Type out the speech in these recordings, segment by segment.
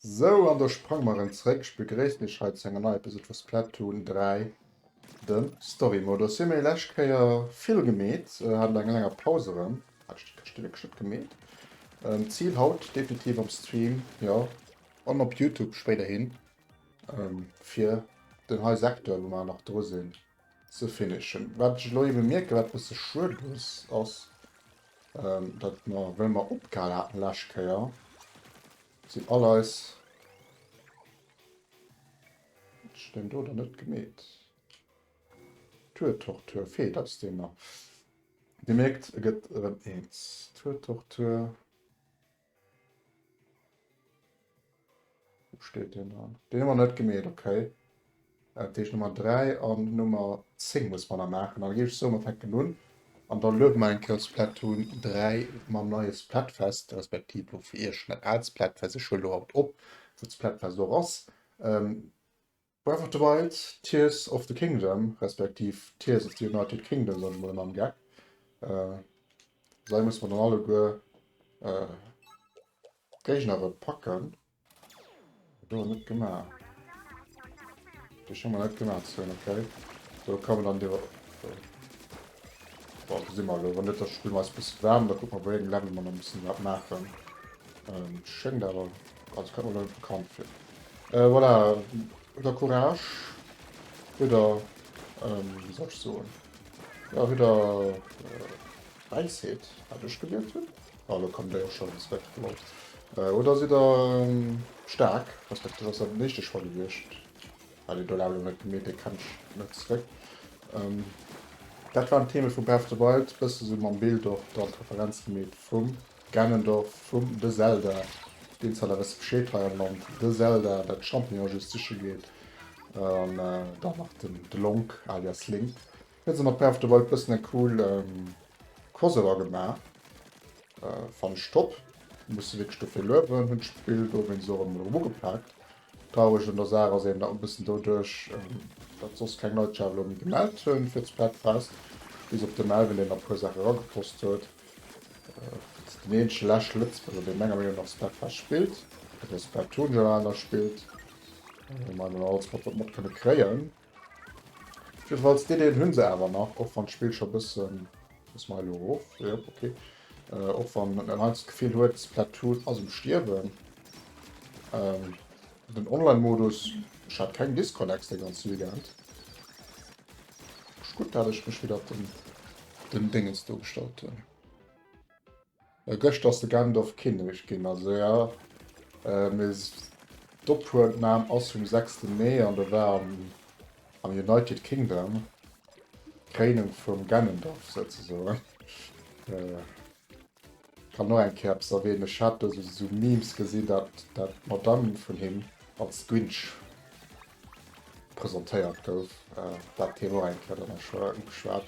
Sou, an da sprange mer erëm zréck. Ech begréissen iech hei zu enger neier Episode vu Splatoon 3. Den Story Modus hun mir lescht Kéier vill gemeet, hat no enger langer Paus erem Stëbchen gemeet. Ziel haut definitiv am Stream, jo an op Youtube spéiderhin, fir den hei Secteur wou mer nach dru sin ze finishen. Wat ech elo eben mierken wat bësse schued ass, ass dat mer wéi mer opgehal haten lescht Kéier sin all eis. Ass deen do dann net gemeet? Tuertortur, fee, dat ass deen do. Dir mierkt, e gëtt erëm eens. Tuertortur, wou steet deen dann? Deen hu mer net gemeet, okay. Dat heescht Nummer 3 an Nummer 10 musse mer nach maachen. Dann géif ech soen, mer fänken un an da luede mer eng Kéier Splatoon 3 mam neie Splatfest, respektiv elo fir Iech net al Splatfest, ech huelen elo haut op, wou d'Splatfest och ass. Breath of the Wild, Tears of the Kingdom, respektiv Tears of the United Kingdom, soen ech mol ëmmer am Gag. Esou musse mer dann alleguer d'Géignere packen. Dat hu mer net gemaach. Dech hu mer net gemaach ze hunn, okay. Esou, kommen dann do. Bon, do si mer elo. Wann net, da spille mer eis e bësse waarm, da kucke mer, wéi engem Level mer nach e bësse wat maachen. Schéngt awer Ah, dat kënnt mer net bekannt vir. Euh, voilà, hutt der Courage, hutt der, ähm, wéi soll ech soen, ja, hutt der äh, Wäisheet, wat ech gelieft hunn. Ah, lo kommt déi och schonn zrëck, lol. Äh, oder sidd der ähm, staark, respektiv ass dat den éischte Choix gewiescht, wat een do laang net gemeet, dee kënnt net zrëck. Ähm, dat waren d'Theme vu Breath of the Wild, bësse sou mam Bild och dann d'Referenz gemeet vum. Ganondorf vum The Zelda, deen zwar der wësse Bescheed hei am Land, The Zelda, dat d'Champignon just siche geet, an dann nach den Delonk alias Link. Hien huet mat Breath of the Wild bëssen en cool Crossover gemaach, fannen ech top, muss se wierklech dofir luewen, hunn d'Spill dowéinst och emol erëm ugepaakt, Traureg un der Saach ass eben, datt e bëssen doduerch, datt soss keng Leit sech awer elo méi gemellt hunn fir d'Splatfest, bis op de Melvin, deen der e puer Saache erageposst huet, ass deen eenzege leschte Lëtzebuerger, dee menger Meenung nach Splatfest spillt, oder Splatoon generell nach spillt. Ech menge mir hunn alleguer wat mat kënne kréien. Jiddefalls déi Deel hunn se awer nach, och wann d'Spill scho bëssen, muss mer hei elo erof? Jop ok, och wann en heiansdo d'Gefill huet Splatoon ass um Stierwen. Den Online Modus, ech hat keng Disconnects de ganze Weekend, ass gutt dat ech mech widder op den Dengen do gestallt hunn. Geschter ass de Gandalf Kinnek gin, also ja mee d'Ophuelnahm ass vum 6 Mee an der war am United Kingdom d'Kréinung vum Ganondorf souzesoen. Kann och eng Kéier eppes erwähnen, ech hat esou Memes gesin dat d'Madame vun him als Grinch Presentéiert gouf. Dat Thema och eng Kéier, dat ass scho ugeschwat.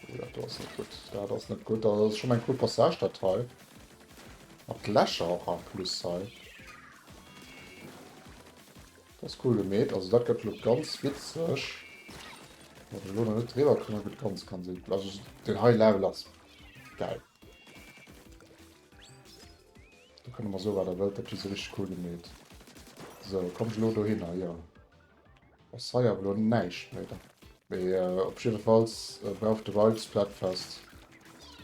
Oh, dat do ass net gutt. Dat ass net gutt. Dat ass schonn eng cool Passage, dat hei. Mat Lächer och en plus hei. Dat ass cool gemeet. Also dat gëtt elo ganz witzeg. Wann ech elo nach net driwwer kommen, gëtt ganz, ganz eepel. Also deen hei Level ass gäil. Do kënne mer soe wat der wëllt, dat hu se richteg cool gemeet. Sou, komm ech elo dohinner? Jo. Ass hei awer elo näischt méi dran. Mee op jiddefalls brauch de Raid Splatfest.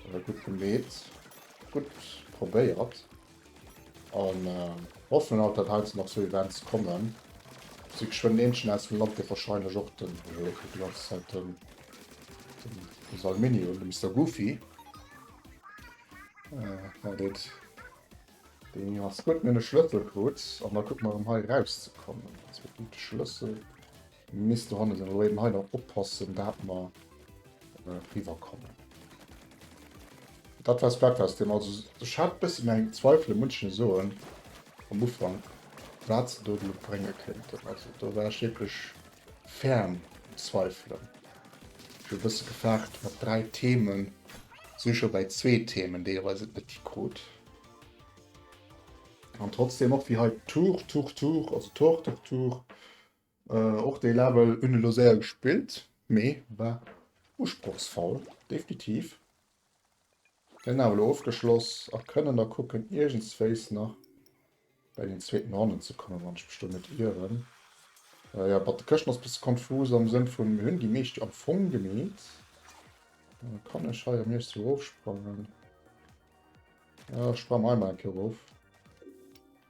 Gutt gemeet, gutt probéiert. An hoffen alt dat heiansdo nach sou Events kommen. Si geschwënn Eentchen aus dem Land dee wahrscheinlech och den, jo, ech kucken déi ganz Zäit den Salmini un, de Mister Goofy. Äh, dit. Den ass gutt mir de Schlëssel krut an da guck mal um hei rauszekommen. Ass fir de Schlëssel misst du hanne sinn oder eben hei nach oppassen, dat mer äh, riwerkommen. Dat wars Breakfast dem also ech hat bëssen eng Zweifel e Mënschen soen am Ufang wat ze do brénge kënnten. Also do war ech wierklech ferm zweifelen. Ech hu bësse gefaart mat 3 Themen, si scho bäi zwee Themen, déi op eis et net gi krut. An trotzdeem och wéi hei Tour Tour Tour, also Tour Tour Tour, och dee Level hunn elo séier gespillt, mee war usprochsvoll, definitiv. Sinn awer elo ofgeschloss a kënnen da kucken iergendswéis nach bei den zweeten Honnen ze kommen, wann ech mech do net ieren. Jo, mat de Këschten ass bësse konfus am Sënn vun mir hunn déi meescht jo am Fong gemeet. Dann kann ech hei am Iecht sou erofsprangen. Jo, ech sprange mer hei mol eng Kéier erof.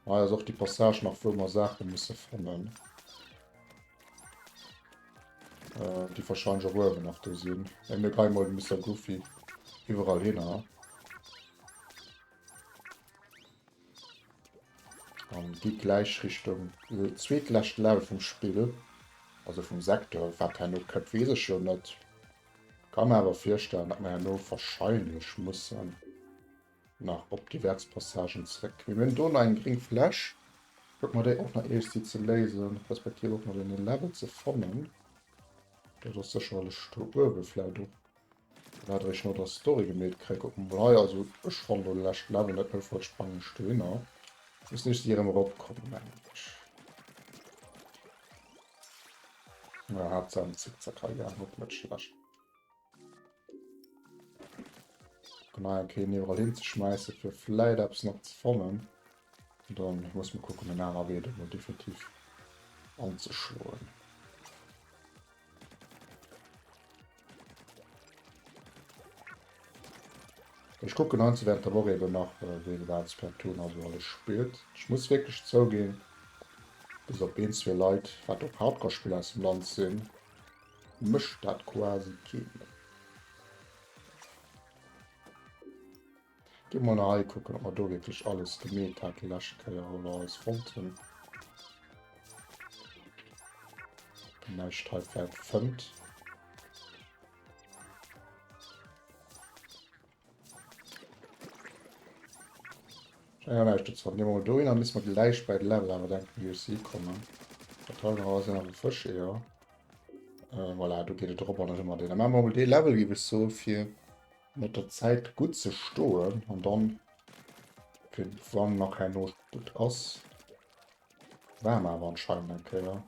Hei ass och déi Passage nach wou mer Saache musse fannen. Äh, déi wahrscheinlech och uewen nach do sinn. Eng mir geie mol de Mister Goofy iwwerall hinner. An déi gläich Richtung äh, zweetläscht Level vum Spill. Also vum Sektor. Wat herno kënnt weess ech jo net. Ka mer awer virstellen, datt mer herno wahrscheinlech mussen. Nach op déi Wärzpassagen zréck. Mir hunn do nach eng gréng Fläch. Kucke mer déi och nach iergsti ze léisen, respektiv och nach en Level ze fannen. Dat ass sécherlech do uewe vläit op wat der iech no der Story gemeet kréie. Kucke mer mol hei. Also ech fann do de leschte Level net méi. Vläicht spangen ech dohinner. Missten iergsti erëm eropkommen, mengen ech. Haaptsaach en Zickzack hei gaangen. Net schlecht. Gemeier keen iwwerall hin ze schmeissen fir vläit eppes nach ze fannen. Dann muss man kucken en aner Wee dat mal definitiv anzeschloen. Ech kucken an ze während der Woche eben nach äh, wéi wat Splatoon also alles spielt. Ich muss wirklich zouginn, bis op een zwee Leit wat op Hardcore-Spiller aus dem Land sinn, Mécht dat quasi kee méi? Gi mol nach hei kucken, ob mer do wierklech alles gemeet hat déi lescht Kéier, wou mer eis wollten. Näischt hei wäert fënnt. Ja, nein, das war mal do, dann müssen wir gleich bei Level aber denken, wie ich sie komme. Total raus, dann haben Fisch, ja. Äh, voilà, du geht drüber, dann immer den. Dann machen wir mal den Level, gebe ich so, für mit der Zeit gut zu stohlen und dann, für wann noch kein Not gut aus. War mal aber anscheinend, okay, ja.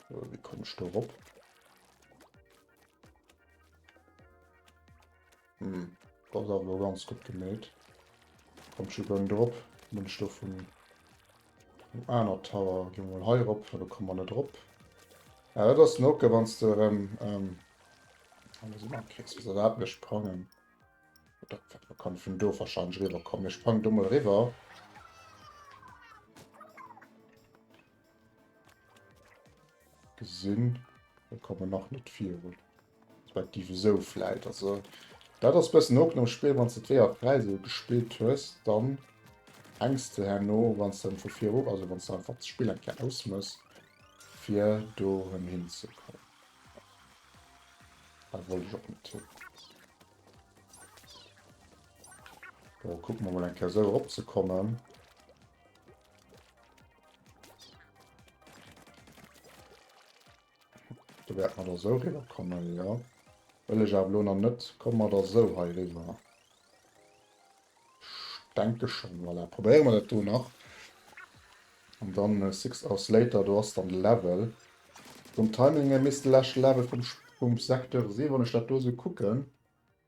Wie komme ich da rüber? Hm, dat ass awer ganz gutt geméit. Kommt scho gönn drop. Nun ech do vun dem aner Tower gi mol hei rop, da kommen wir net drop. Ja, dat ass Noke, wann du rem ähm, alles immer kriegst, was dat mir sprangen. Dat kann vun do wahrscheinlich rüberkommen. Ich sprang do mal rüber. Gesinn, da kommen nach net virun. Respektiv esou vläit. Also dat ass bëssen Open am Spill, wann s de d'Weeër fräi esou gespillt hues, dann hänks de herno, wann s de vu viru, also wann s de einfach d'Spill eng Kéier ausmëss, fir do rëm hinzekommen. Hei wollt ech och net hin. Kucke mer mol eng Kéier esou eropzekommen. Da wäert mer da sou riwwer kommen, jo. Wëll ech awer elo nach net. Komme mer da sou hei riwwer? Ech denke schonn. Voilà, probéiere mer dat do nach. An dann six hours later, do ass dann de Level. Vum Timing hier misst de leschte Level vum Secteur sinn, wann ech dat do sou kucken.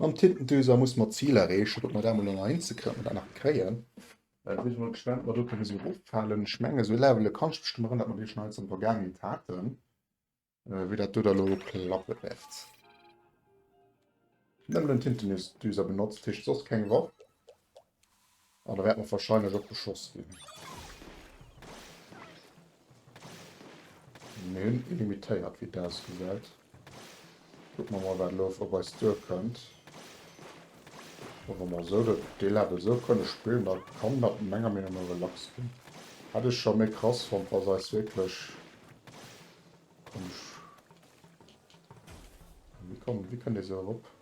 Mam Tintentuser muss mer d'Zil erreechen, datt mer dat mol ënner een ze kréien, datt mer dat nach kréien. Ech si mol gespannt, ob mer do kënne sou eroffalen. Ech menge sou Levele kann ech mech drun erënneren, datt mer déi schonn eins an der Vergaangenheet haten, wéi dat do da elo klappe wäert. Nëmmen en Tintentuser benotzt heescht soss keng Waff. An da wäert mer wahrscheinlech och beschoss ginn. Mir hunn ee limitéiert, wéi et ausgesäit. Kucke mer mol, wat elo op eis duerkënnt. Wa mer mol esou dee Level esou kënne spillen, da kann dat menger Meenung no relax ginn. Hätt ech scho méi krass fonnt, wa se eis wierklech... Komm ech... Wéi kënnt ee esou erop?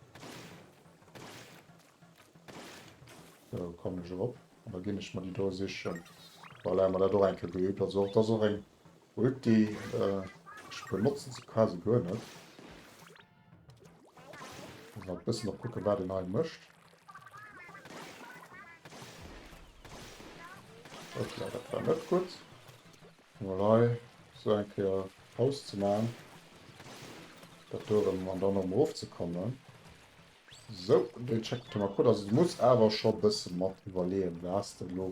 Sou, kommen ech erop. An da ginn ech mer déi do sichen. Voilà, hun mer dat och eng Kéier geübt. Also och, dat ass och eng Ulti. Ech benotzen se quasi guer net. Muss nach e bëssen op kucken, wat een hei mécht. Hoppla, dat war net gutt. Mol hei sou eng Kéier Paus ze maachen. Dat do erëm an dann erëm erofzekommen. Sou, dei checkt den Thomas Koeller, also du muss awer scho bessen mat iwwerleeën, oder has de elo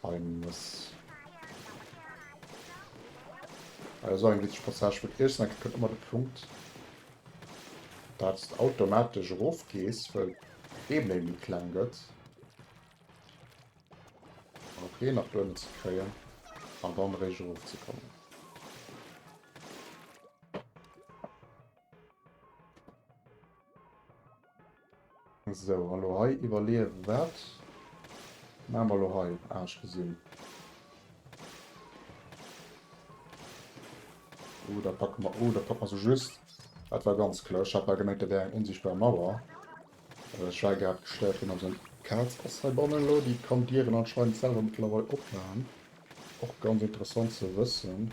ein mëss? Hei ass och eng witzeg Passage, wou d'Iech sinn, a kritt ëmmer de Punkt datts de automatesch erof gees, well d'Ebene méi kleng gëtt, fir hei nach duerno ze kréien, an dann eréischt erof ze kommen. So, hallo hei iwwerleewen. Wat maache mer lo hei? Ah, ech gesinn. Oh, da packe mer, oh, da packe mer se just. Dat war ganz clever. Ech hat bal gemengt, dat wär eng onsichtbar Mauer. Äh, ech war grad gestéiert ginn, also eng Kaz ass hei bannen lo. Déi kann d'Dieren anscheinend selwer mëttlerweil opmachen. Och ganz interessant ze wëssen.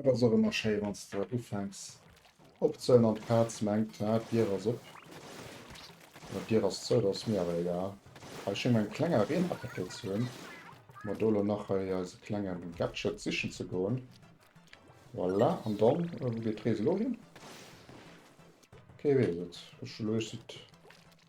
Et ass och ëmmer schéi wann s de ufänks opzehëllen an d'Kaz mengt, ah d'Dier ass op oder d'Dier ass zou. Dat ass mir awer egal. Hei schénge mer eng kleng Arena péckelt ze hunn, fir mer do elo nach hei eise klenge Gadget sichen ze goen. Voilà, an dann, wou geet d'Rees elo hin? Kee weess et. Ech elo, ech si.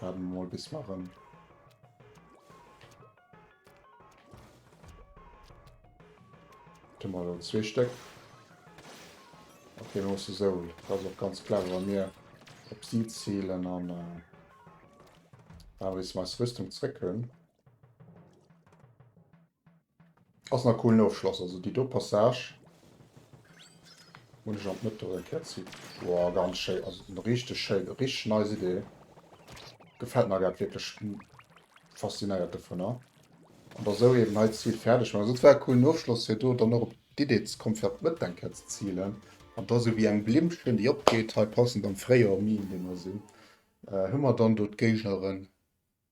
Waarde mer mol bis marën. Hun mer elo zwee Stéck. Ok, mir musse esou, dat ass och ganz clever, wa mir op si zielen an awer bis mer eis Rüstung zréck hunn. Ass na coolen Ofschloss, also déi do Passage hunn ech an d'Mëtt erëm kéiert zi. Woah ganz schéi, also richteg schéin, richteg nice Idee. Gefällt mer grad wierklech faszinéiert dovunner. An da sou eben hei d'Zil fäerdeg man, also dat war e coolen Ofschloss fir do dann och op d'Idee ze kommen fir an d'Mëtt eng Kéier ze zilen. An da sou wéi eng Blimmchen déi opgeet hei passend am Fréijoer, am Mee, an deem mer sinn, hu mer dann do d'Géigneren.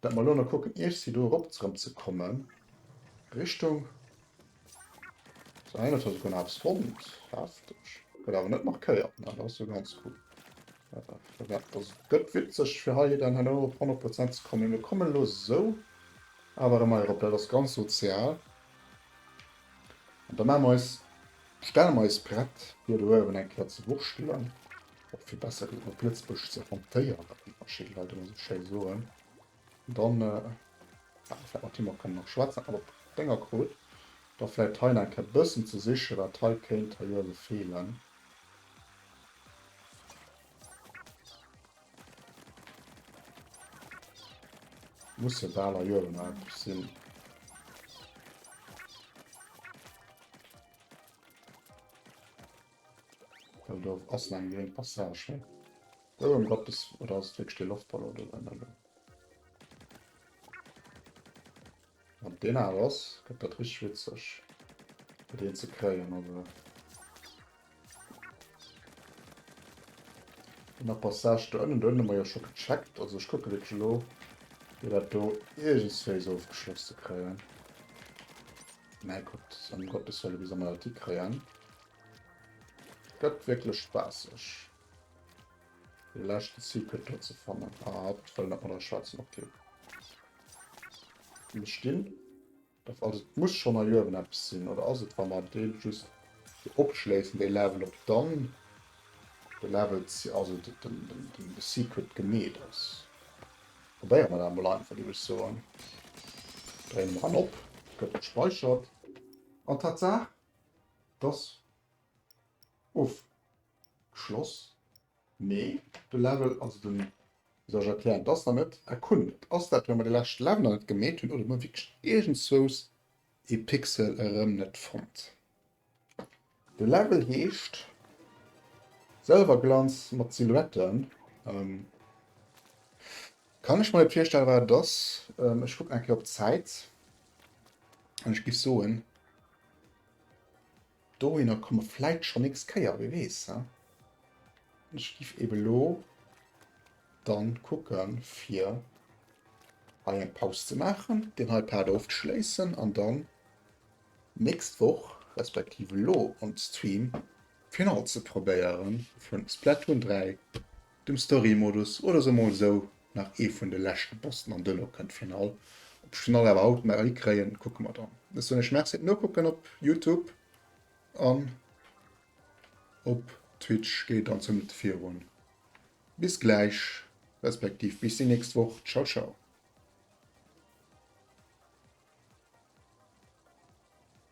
Dat mer elo nach kucken Iech si do erop zrem ze kommen Richtung sou 21 hun eppes fonnt heftig gëtt awer net markéiert ne dat ass jo ganz cool also gëtt witzeg fir hei dann herno op 100 Prozent ze kommen mee mer kommen elo sou awer emmer erop dat ass ganz sozial an da maache mer eis stelle mer eis prett hei do uewen eng kéier ze wurschtelen. och vill besser geet mat Blëtzbësch ze hantéieren, wéi verschidde Leit ëmmer esou schéi soen, dann hätt mer vläicht mat him och kënnen nach schwätzen. Awer Dénger krut da vläicht hei nach eng Kéier e bëssen ze sichen, wat hei kéint hei uewe feelen. Muss jo bal hei uewe nach eppes sinn. Oh, do ass nach eng gréng Passage hei. Oh, em Gottes, oder ass et wierklech dee Loftballon do drënner elo? Wann et deen awer ass, gëtt dat richteg witzeg, fir deen ze kréien. Also an der Passage do ënnen, do hunn mer jo scho gecheckt. Also ech kucke wierklech elo, fir dat do iergendswéi esou ofgeschloss ze kréien. Mä kuckt, em Gottes Wëlle, wéi soll mer dat hikréien? Gëtt wierklech spaasseg de leschte Secret do ze fannen. Ah hatt wëll net mat eis schwätzen, ok. Mir stinn op, also et muss schonn hei uewen eppes sinn, oder ass et wa mer dee just do opschléissen dee Level, ob dann de Level, also de Secret gemeet ass. Probéiere mer dat emol einfach, géif ech soen. Dréine mer en op, gëtt gespeichert an Tatsaach dass ofgeschloss, mee de Level, also den, wéi soll ech erklären, dass nach net erkundet. Ass dat well mer de leschte Level nach net gemeet hunn oder hu mer wierklech iergendswous ee Pixel erëm net fonnt? De Level heescht Selwerglanz mat Silhouetten. Kann ech mer net virstellen wat et ass. Ech kucken eng Kéier op d'Zäit. An ech giff soen, dohinner komme vläit scho nächst Kéier, wie weess. He? Ech giff eben lo dann kucken, fir hei eng Paus ze maachen, deen hei Part ofzeschléissen an dann nächst Woch, respektiv elo am Stream, d'Finall ze probéieren vun Splatoon 3. dem Story-Modus oder se mol sou nach ee vun de leschte Bossen an duerno kënnt d'Finall. Ob ech d'Finall awer haut nach hikréien, kucke mer dann. Ech soen iech Merci fir d'Nokucken op Youtube an op Twitch geet et dann zumindest virun. Bis gläich, respektiv bis déi nächst Woch. Ciao ciao.